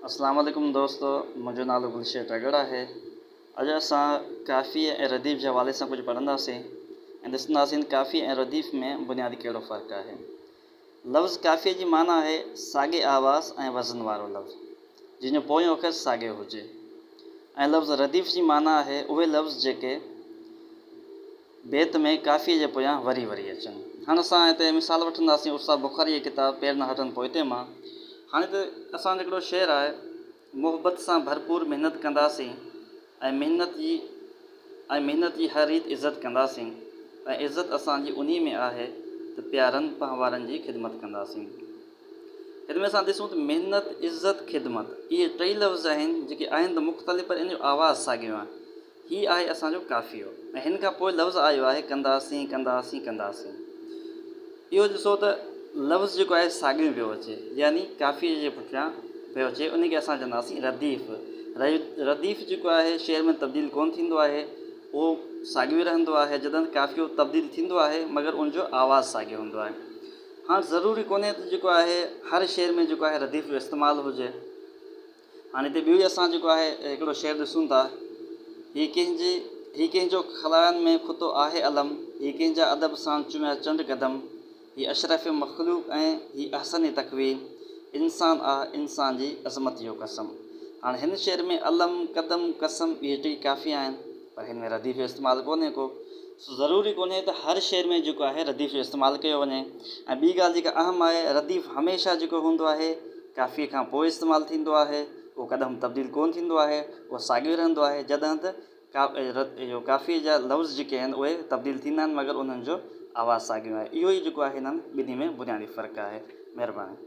اسلام عليڪم دوستو منهنجو نالو گلشير ٽڳڙ آهي اڄ اسان ڪافيء ۽ رديف جي حوالي سان ڪجهه پڙهنداسين ۽ ڏسنداسين ڪافيء ۽ رديف ۾ بنيادي ڪهڙو فرق آهي لفظ ڪافيء جي معنيٰ آهي ساڳي آواز ۽ وزن وارو لفظ جنهن جو پويون اکر ساڳيو هجي ۽ لفظ رديف جي معنيٰ آهي اهي لفظ جيڪي بيت ۾ قافيي جي پويان وري وري اچن. هاڻ اسان هتي مثال وٺنداسين استاد بخاري جي ڪتاب پير نه هٽن پوئتي مان. هاڻ هتي اسان جو هڪڙو شعر آهي، محبت سان ڀرپور محنت ڪنداسين ۽ محنت جي ۽ محنت جي هر ريت عزت ڪنداسين ۽ عزت اسان جي انهي ۾ آهي ته پيارن پنهوارن جي خدمت ڪنداسين. هن ۾ اسان ڏسون ته محنت، عزت، خدمت اهي ٽئي لفظ آهن جيڪي آهن ته مختلف پر ان جو آواز ساڳيو آهي. هي آهي اسان جو قافيو ۽ هن کان پوء لفظ آيو آهي ڪنداسين ڪنداسين ڪنداسين اهو ڏسو ته لفظ جيڪو آهي ساڳيو پيو اچي يعني قافيي جي پٺيان پيو اچي ان کي اسان چونداسين رديف رديف جيڪو آهي شعر ۾ تبديل ڪونه ٿيندو آهي اهو ساڳيو ئي رهندو آهي جڏهن قافيو تبديل ٿيندو آهي مگر ان جو آواز ساڳيو هوندو آهي هاڻ ضروري ڪونهي ته جيڪو آهي هر شعر ۾ جيڪو آهي رديف جو استعمال هجي هاڻي هتي ٻيو ئي اسان جيڪو آهي هڪڙو شعر ڏسون ٿا، هي ڪنهن جي هي ڪنهن جو خلاين ۾ خطو آهي علم، هي ڪنهن جا ادب سان چميا چنڊ قدم، هي اشرف مخلوق ۽ هي احسن تقويم، انسان آ انسان جي عظمت جو قسم. هاڻي هن شعر ۾ علم، قدم، قسم اهي ٽئي قافيا آهن. پر هن ۾ رديف جو استعمال ڪونهي ڪو، سو ضروري ڪونهي ته هر شعر ۾ جيڪو آهي رديف جو استعمال ڪيو وڃي ۽ ٻي ڳالهه جيڪا اهم آهي رديف هميشه جيڪو هوندو آهي ڪافيء کان پوء استعمال ٿيندو آهي اهو ڪڏهم تبديل ڪونه ٿيندو آهي اهو ساڳيو ئي رهندو آهي جڏهن ته اهو ڪافيء جا لفظ جيڪي آهن اهي تبديل ٿيندا آهن مگر انهن جو آواز ساڳيو آهي اهو ئي جيڪو آهي هنن ٻنهي ۾ بنيادي فرق آهي مهرباني